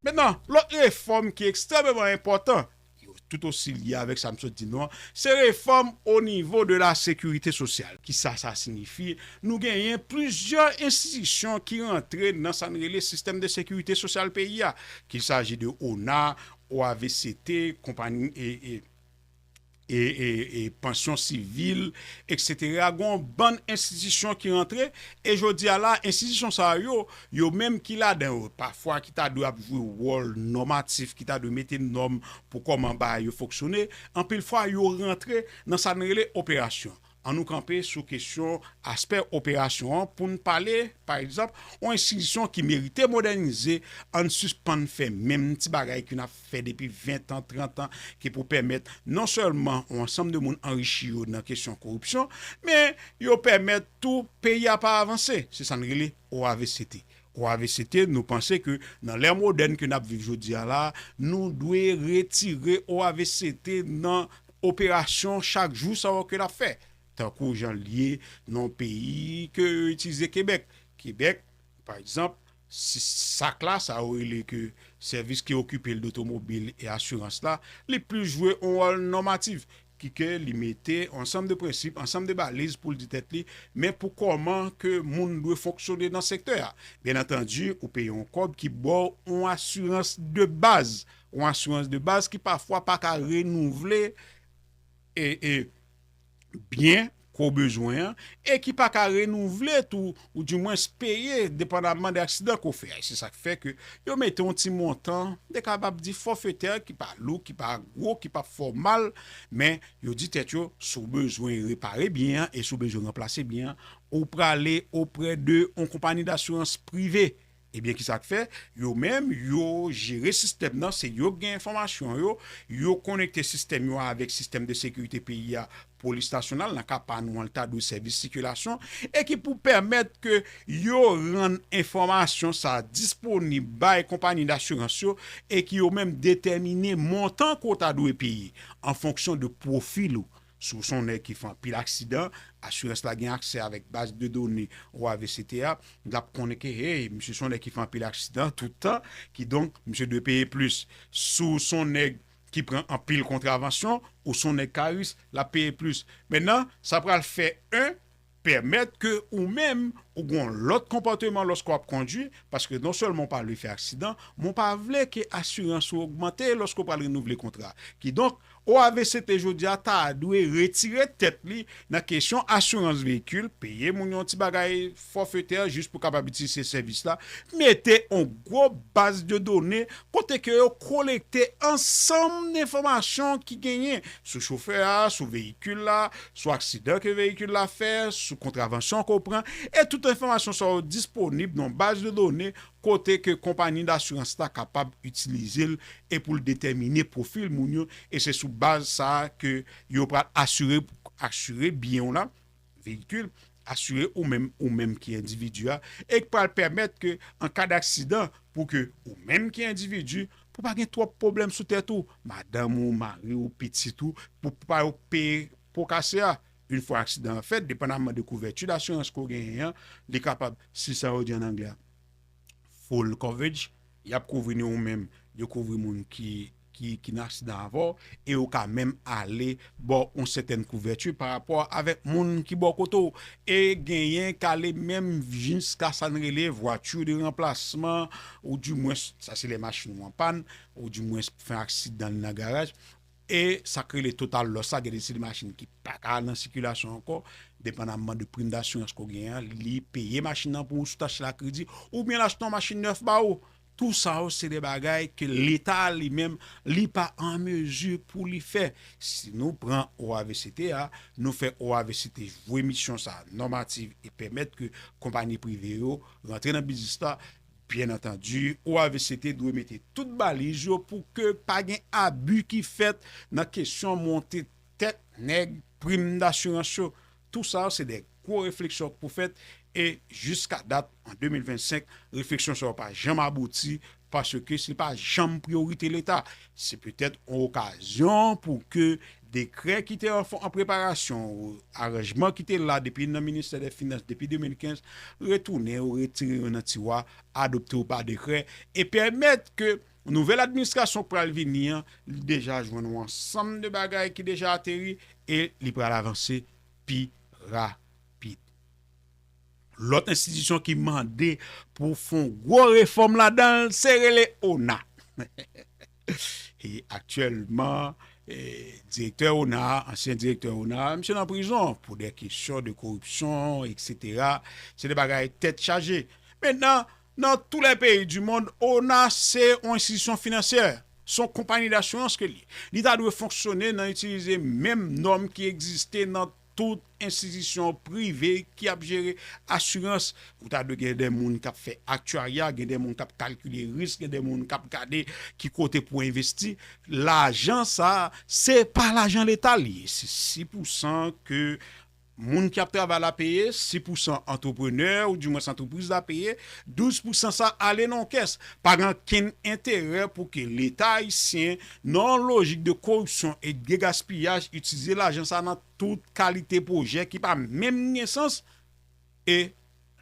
Mentnan, lòt refòm ki ekstrèmeman enpòtan, ki tout osi lye avèk sa m sot di nou an, se refòm o nivo de la sekirite sosyal. Kisa sa siyifi? Nou genyen plizyè enstitisyon ki rantre nan sa n rele sistèm de sekirite sosyal peyi a, kil saji de ona, OAVCT, konpagn. e pansyon sivil eksetera gen yon bann enstitisyon ki rantre e jodi a la enstitisyon sa yo yo menm ki ladan yo pafwa ki ta dwe ap jwe wòl nòmatif ki ta dwe mete nòm pou kòman bagay yo fonksyone anpil fwa yo rantre nan sa n rele operasyon An nou kanpe sou kesyon aspè operasyon an pou n pale, pa egzanp, yon enstitisyon ki merite modènize, an n sispann fè menm ti bagay ke n ap fè depi ventan, trantan, ki pou pèmèt non sèlman yon ansanm de moun anrichi yo nan kesyon koripsyon, men yo pèmèt tou peyi a pa avanse. Se sa n rele OAVCT. Ou avesete nou panse ke nan lè modèn ke nap viv jodi a la, nou dwe retire ou avesete nan operasyon chak jou sa yo ke nap fè. Tankou jan li ye nan yon peyi ke yo itilize Kebèk. Kebèk, pa egzanp, si sak la, sa yo rele ke sèvis ki okipe l dotomobil e asirans la, li plis jwe yon wòl nòmatif. ki ke li mete ansanm de prensip, ansanm de baliz pou l di tèt li, men pou kòman ke moun dwe fonksyone nan sektè a. Byen antandi, ou peye yon kòb ki ba w yon asirans de baz, yon asirans de baz ki pafwa pa ka renouvle e byen. ke w bezwen an e ki pa ka renouvle tou ou di mwens peye depandaman de aksidan ke w fè a. Se sa k fè ke yo mete yon ti montan de kapab di fòfetè ki pa lou, ki pa gwo, ki pap fè w mal men yo di tèt yo si w bezwen repare byen an e si w bezwen ranplase byen an ou prale oprè de yon konpani dasirans prive. Ebyen kisa k fè, yo menm yo jere sistèm nan, se yo k gen enfòmasyon yo, yo konekte sistèm yo avèk sistèm de sekirite peyi a, polis nasyonal, nan ka pa nou an l ta dwe sèvis sikilasyon, e ki pou pèmèt ke yo rann enfòmasyon sa disponib bay konpanyi dasirans yo e ki yo menm detèmine montan ke w ta dwe peye an fonksyon de pwofil ou. Si w se yon nèg ki fè anpil aksidan, asirans la gen aksè avèk baz de done OAVCT a, l ap konnen ke hey, misye se yon nèg ki fè anpil aksidan tout tan, kidonk misye dwe peye plis. Si w se yon nèg ki pran anpil kontravansyon, ou se yon nèg ka risk, l ap peye plis. Mennan, sa pral fè 1. Pèmèt ke ou menm ou gen yon lòt konpòteman lòske w ap kondwi, paske non sèlman ou pa vle fè aksidan, men ou pa vle ke asirans ou ogmante lòske ou pral renouvle kontra a. Kidonk, OAVCT jodi a ta dwe retire tèt li nan kesyon asirans veyikil, peye moun yon ti bagay fòfetè jis pou kapab itilize sèvis la, mete yon gwo baz de done kote ke yo kolekte ansanm de enfòmasyon ki genyen sou chofè a, sou veyikil la, sou aksidan ke veyikil la fè, sou kontravansyon ke w pran, e tout enfòmasyon sa yo disponib nan yon baz de done kote ke konpani dasirans la kapab itilize l e pou l detèmine pwofil moun yo e se sou baz sa a ke yo pral asire asire byen w la. veyikil, asire ou menm ou menm ki endividi a, e k pral pèmèt ke an ka daksidan pou ke ou menm ki endividi, pou pa gen twòp pwoblèm sou tèt ou, madanm ou, mari ou, pitit ou, pou pa yo peye po kase a. Yn fwa aksidan an fèt, depandaman de kouvèti dasirans ke w genyen an, li kapab, si sa yo di an anglè a, full coverage, y ap kouvri ni ou menm, yo kouvri moun ki. ki nan aksidan avè w, e ou ka menm ale ba w yon sètèn kouvèti pa rapò avèk moun ki bò kote w, e genyen k ale menm jiska sa n rele vwati de ranplasman, ou di mwens sa se lè machin ou an pàn, ou di mwens pou fè aksidan li nan garaj, e sa k rele total lòs la, gen de seri machin ki pa ka nan sikilasyon ankò, depandamman de prim dasirans ke w genyen an, li peye machin nan pou ou sou tach la kredi, oubyen l achte yon machin nèf ba ou. Tou sa yo se de bagay ke leta a li menm li pa an mezi pou li fè. Si nou pran OAVCT a, nou fè OAVCT jwe misyon sa a nòmativ e pèmèt ke konpani prive yo rantre nan biznis la, byen antandi OAVCT dwe mete tout baliz yo pou ke pa gen abi ki fèt nan kesyon monte tèt nèg prim dasirans yo. Tou sa yo se de gwo refleksyon k pou fèt e jiska dat an 2025 refleksyon sa yo pa janm abouti paske se pa janm priyorite leta. Se petèt yon okazyon pou ke dekrè ki te an preparasyon, aranjman ki te la depi nan ministè dè finans depi 2015 retounen yo retire yo nan tiwa adopte yo pa dekrè e pèmèt ke Nouvèl administrasyon k pral vini an, li deja jwenn yon ansanm de bagay ki deja ateri e li pral avanse pi rapid. Lòt enstitisyon ki mande pou fon gwo refòm ladan l se rele ona. E aktyèlman direktè ona a, ansyen direktè ona a, misye nan prizon pou dè kesyon de koripsyon eksetera. Se de bagay tèt chaje. Mentnan. Nan tou lè peyi di mond, ona se yon enstitisyon finansyè, se yon konpani dasurans ke li ye. Li ta dwe fonksyone nan itilize menm nòm ki egziste nan tout enstitisyon prive ki ap jere asurans. Ou ta dwe gen de moun k ap fè aktyarya, gen de moun k ap kalkile risk, gen de moun k ap gade ki kote pou envesti. Lajan sa a, se pa lajan leta li ye, se si pou san ke Moun ki ap travay la peye, si pousan antreprenè ou di mwens antrepriz la peye, 12 pousan sa ale nan yon kès. Pa gen ankenn enterè pou ke leta ayisyen, nan yon lojik de koripsyon e de gaspiyaj itilize lajan sa nan tout kalite pwojè ki pa menm gen sans e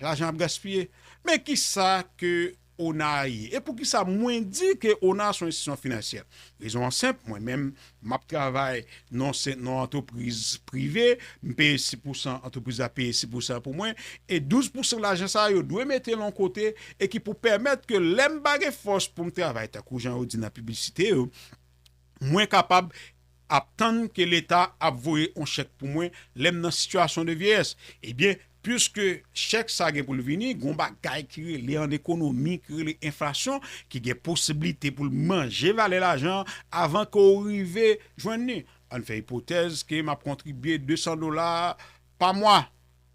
lajan ap gaspiye. Men kisa ke Ona ye. E poukisa mwen di ke ona son enstitisyon finansyè? Rezon an senp, mwen menm m ap travay nan yon antrepriz prive, m peye 6 pousan, antrepriz la peye 6 pousan pou mwen, e 12 pousan lajan sa yo dwe mete l yon kote e ki pou pèmèt ke lè m pa gen fòs pou m travay tankou jan yo di nan piblisite yo, mwen kapab. ap tann ke leta ap voye on chèk pou mwen lèm nan sitiyasyon de vyeyès ebyen piske chèk sa gen poul vini gon bagay ki rele an ekonomi ki rele enflasyon ki gen posiblite poul manje valè lajan an avan ke ou rive jwenn li ann fè ipotèz ke map kontribye 200 dola pa mwa.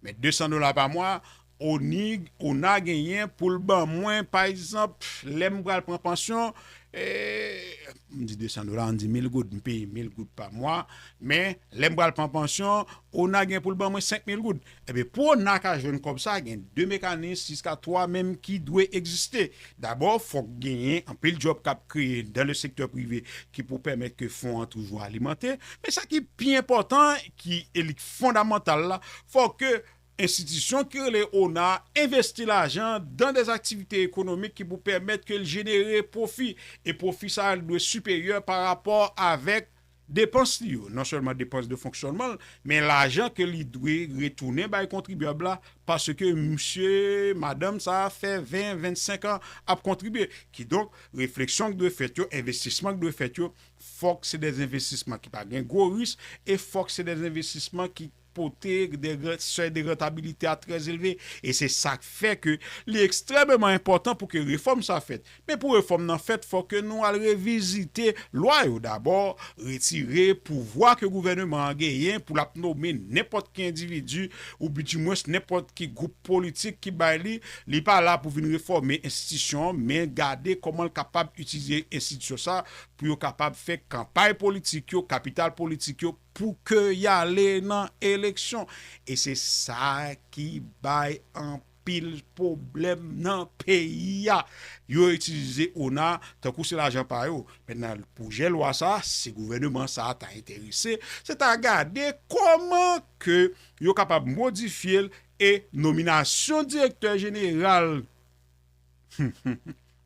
Men 200 dola pa mwa ona genyen pou l ban mwen pa egzanp lè m pral pran pansyon, m di 200 dola an di 1000 goud, m peye 1000 goud pa mwa men lè m pral pran pansyon ona gen pou l ban mwen 5000 goud. Ebyen pou ona ka jwenn kòb sa gen 2 mekanis jiska 3 menm ki dwe egziste. Dabò fòk genyen anpil djòb k ap kreye dan le sektè prive ki pou pèmèt ke fon an toujou alimante men sa ki pi enpòtan ki e li k fondamantal la, fò ke enstitisyon ki rele ona a envesti lajan dan des aktivite ekonomik ki pou pèmèt ke l jenere pwofi, e pwofi sa a dwe siperyè pa rapò avèk depans li yo, non sèlman depans de fonksyònman l, men lajan ke li dwe retounen bay kontribyab la paske msye, madanm sa a fè 20, 25 an ap kontribye. Kidonk, refleksyon k dwe fèt yo, envestisman k dwe fèt yo, Fòk se de envestisman ki pa gen gwo ris e fòk se de envestisman ki pote de sèy de rantabilite a trè elve. E se sa k fè ke li ekstrèmeman enpòtan pou ke refòm sa fèt. Men pou refòm nan fèt fòk ke nou al revizite lwa yo dabò, retire pouvwa ke gouvèneman an genyen pou l ap nome nenpòt ki endividi ou bi di mwens nenpòt ki gwoup politik ki bay li. Li pa la pou vin refòme enstitisyon men gade kòman l kapab itilize enstitisyon sa pou yo kapab fè kanpay politik yo, kapital politik yo pou ke y ale nan eleksyon. E se sa ki bay anpil pwoblèm nan peyi a. Yo itilize ona tankou se lajan pa yo. Mentnan pwojè lwa sa, si gouvèneman sa ta enterese, se ta gade kòman ke yo kapab modifye l e nominasyon direktè jeneral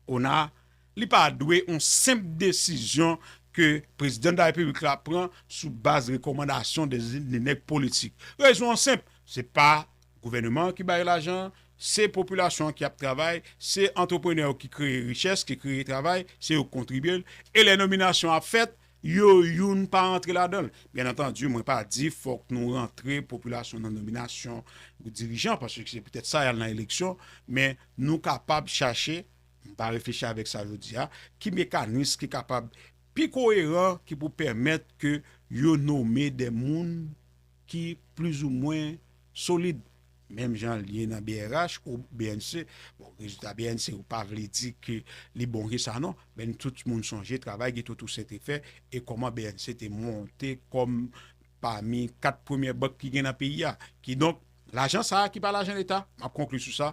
ona, Li pa dwe on senp desizyon ke Prezidan da Repiblik la pran sou baz rekòmandasyon de de nèg politik. Rezon an senp, se pa gouvèneman an ki bay lajan an, se popilasyon an ki ap travay, se antreprenè yo ki kreye richès, ki kreye travay, se yo k kontribye l, e lè nominasyon ap fèt, yo youn pa antre ladan l. Byen antandi, mwen pa di fòk nou rantre popilasyon nan nominasyon dirijan, paske se petèt sa y al nan eleksyon, men nou kapab chache, M pa reflechi avèk sa yo di a, ki mekanis ki kapab pi koyeran ki pou pèmèt ke yo nome de moun ki plizoumwen solid, menm jan l ye nan brh ou bnc. Bon, rezilta bnc yo pa vle di ke li bon ke sa non, men n tout moun sonje travay Guito Toussaint te fè e kòman bnc te monte kòm pami 4 premyè bank ki gen nan peyi a. Kidonk, lajan sa a ki pa lajan leta, m ap konkli sou sa,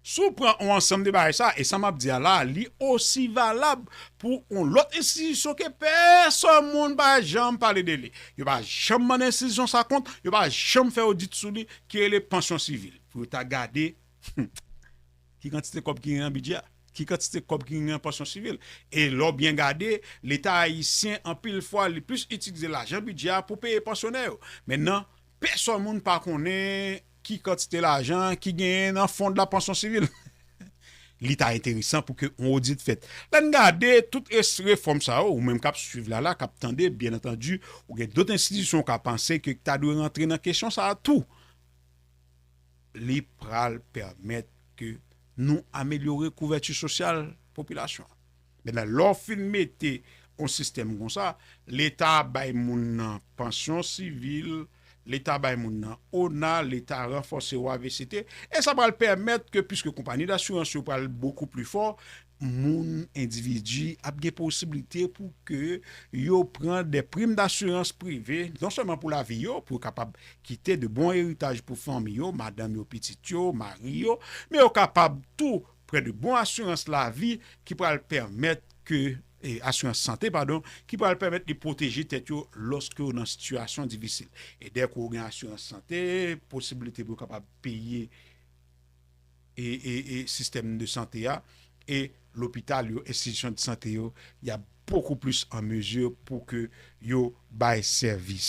Si w pran yon ansanm de bagay sa a, e sa m ap di a la a, li osi valab pou yon lòt enstitisyon ke pèsòn moun pa janm pale de li, yo pa janm mande enstitisyon sa kont, yo pa janm fè odit sou li, ki rele pansyon sivil. Pou yo ta gade, hum, ki kantite kòb ki gen nan bidjè a? Ki kantite kòb ki gen nan pansyon sivil? E lè w byen gade, Leta ayisyen, anpil fwa, li plis itilize lajan bidjè a pou peye pansyonè yo. Mennan, pèsòn moun pa konnen. Ki kantite lajan ki genyen nan fon de la pansyon sivil? Li ta enteresan pou ke yon odit fèt. Lè n gade tout refòm sa yo, ou menm k ap swiv la la, k ap tande, byen antandi, ou gen dot enstitisyon ou ka panse ke ta dwe rantre nan kesyon sa a tou. Li pral pèmèt ke nou amelyore kouvèti sosyal popilasyon an. Mètnen lè w fin mete yon sistèm konsa, leta bay moun nan pansyon sivil, leta bay moun nan ona, leta ranfòse ou avct, e sa pral pèmèt ke piske konpani dasirans yo pral bokou pli fò, moun, endividi ap gen posiblite pou ke yo pran dè prim dasirans prive, non sèlman pou lavi yo, pou yo kapab kite de bon eritaj pou fanmi yo, madanm yo, pitit yo, mari yo, men yo kapab tou Prè de bon asirans lavi ki pral pèmèt ke, asirans sante padon, ki pral pèmèt li pwoteje tèt yo lòske yo nan sitiyasyon difisil. E dèke ou gen asirans sante, posibilite pou yo kapab peye e sistèm de sante a e lopital yo, enstitisyon de sante yo, y ap bokou plis an mezi pou ke yo bay sèvis.